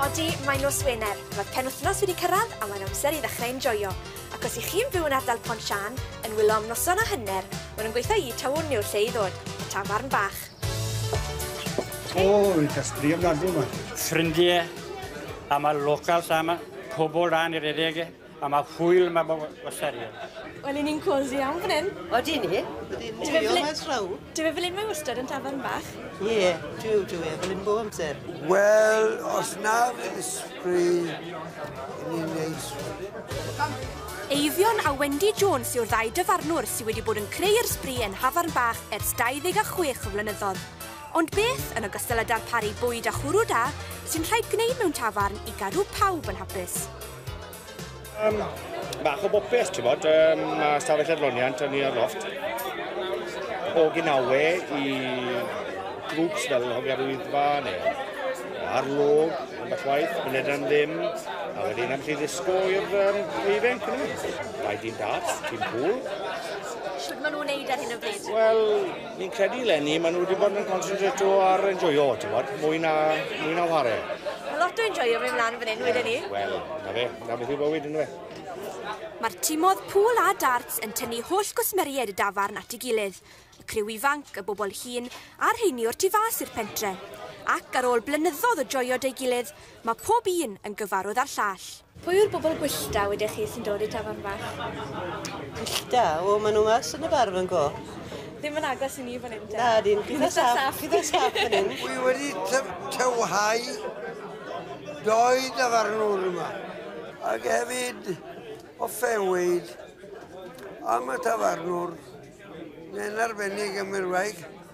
Odi, mae nos Wener. Mae'r penwythnos wedi cyrraedd a mae'n amser i ddechrau enjoio. Ac os i chi'n byw yn ardal Pont Sian, yn wylo am noson o hyner, maen nhw'n gweithio i Tawwn yw'r lle i ddod, y tafarn bach. O, oh, yn casbri ofnadwy yma. Ffrindiau, am y local sama, pobl rhan i'r edege. A mae hwyl mae mo wasarion. Wel, i ni'n cosy iawn fan hyn. O, di ni. Dwi'n dwyo fe traw. Dwi fe fel un mae wastad yn tafarn bach. Ie, yeah, dwi dwi fe fel un bob amser. Wel, os na fydd ysbri, ni'n neis. Eifion a Wendy Jones yw'r ddau dyfarnwr sydd wedi bod yn creu'r sbri yn Hafarn Bach ers 26 o flynyddoedd. Ond beth, yn ogystal â darparu bwyd a chwrw da, sy'n rhaid gwneud mewn tafarn i gadw pawb yn hapus? Um, bach o bopeth, ti'n bod, um, mae stafell adloniant yn ni ar loft. O gynawe i grwps fel Hogarwyddfa neu arlwg, yn bach waith, yn edrych am ddim, a wedyn am chi ddisgo i'r um, eifen, cyn i Rhaid i'n darts, ti'n pŵl. Sut maen nhw'n neud ar hyn o bryd? Wel, Fi'n credu lenni maen nhw wedi bod yn concentrato ar enjoyo, ti'n bod, mwy na, mwy na whare. Mae lot o enjoyo mynd mlaen fan hyn, wedyn ni. Wel, na fe, na beth yw bywyd, ynddo fe. Mae'r timodd pŵl a darts yn tynnu holl gwsmeriaid y dafarn at ei gilydd, y criw ifanc, y bobl hŷn, a'r rheini o'r tu fas i'r pentre. Ac, ar ôl blynyddoedd o joio 'da'i gilydd, mae pob un yn gyfarwydd â'r llall. Pwy yw'r bobl gwyllt da wedech chi sy'n dod i'r tafarn fach? Gwyllt da? O, maen nhw mas yn y bar fan go. Ddim yn agos i ni fan hyn. Na, dyn. Chi'n dda saff. Chi'n dda saff fan hyn. Wy wedi tywhau doi dafarnwr yma. Ac hefyd o fewyd am y tafarnwr. Mae'n arbennig am yr waig.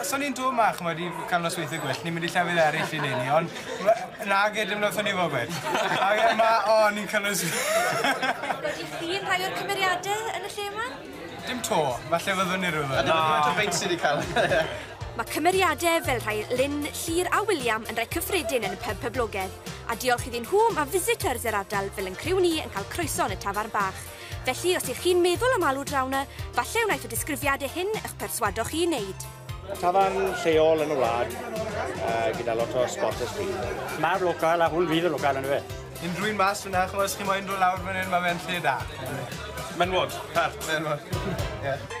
Os o'n i'n dod 'ma ch'mod i ca'l nosweithie gwyllt ni'n mynd i llefydd eryll i neud 'ny on' we- nage dim noson i fo gwell. A fi yma o ni'n ca'l nos- Wedi llun rhai o'r cymeriade yn y lle 'ma? Dim 'to, falle fyddwn ni rywddo- Dim ond y beic sy 'di ca'l e. Ma' cymeriade fel rhai Lyn, Llŷr a William yn rai cyffredin yn y pyb poblogedd, a diolch iddyn nhw ma' visitors yr ardal fel 'yn criw ni yn cael croeso yn y tafarn bach. Felly, os ych chi'n meddwl am alw draw 'na, falle wnaeth y disgrifiadau hyn eich perswado chi i wneud. Tafarn lleol yn y wlad, uh, gyda lot o spotters fi. Mae'r local a hwn fydd y local yn y fe. Unrhyw un mas fyna, chymod, os chi moyn dod lawr fan hyn, mae fe'n lle da. Menwod, pert. Menwod, ie. Yeah.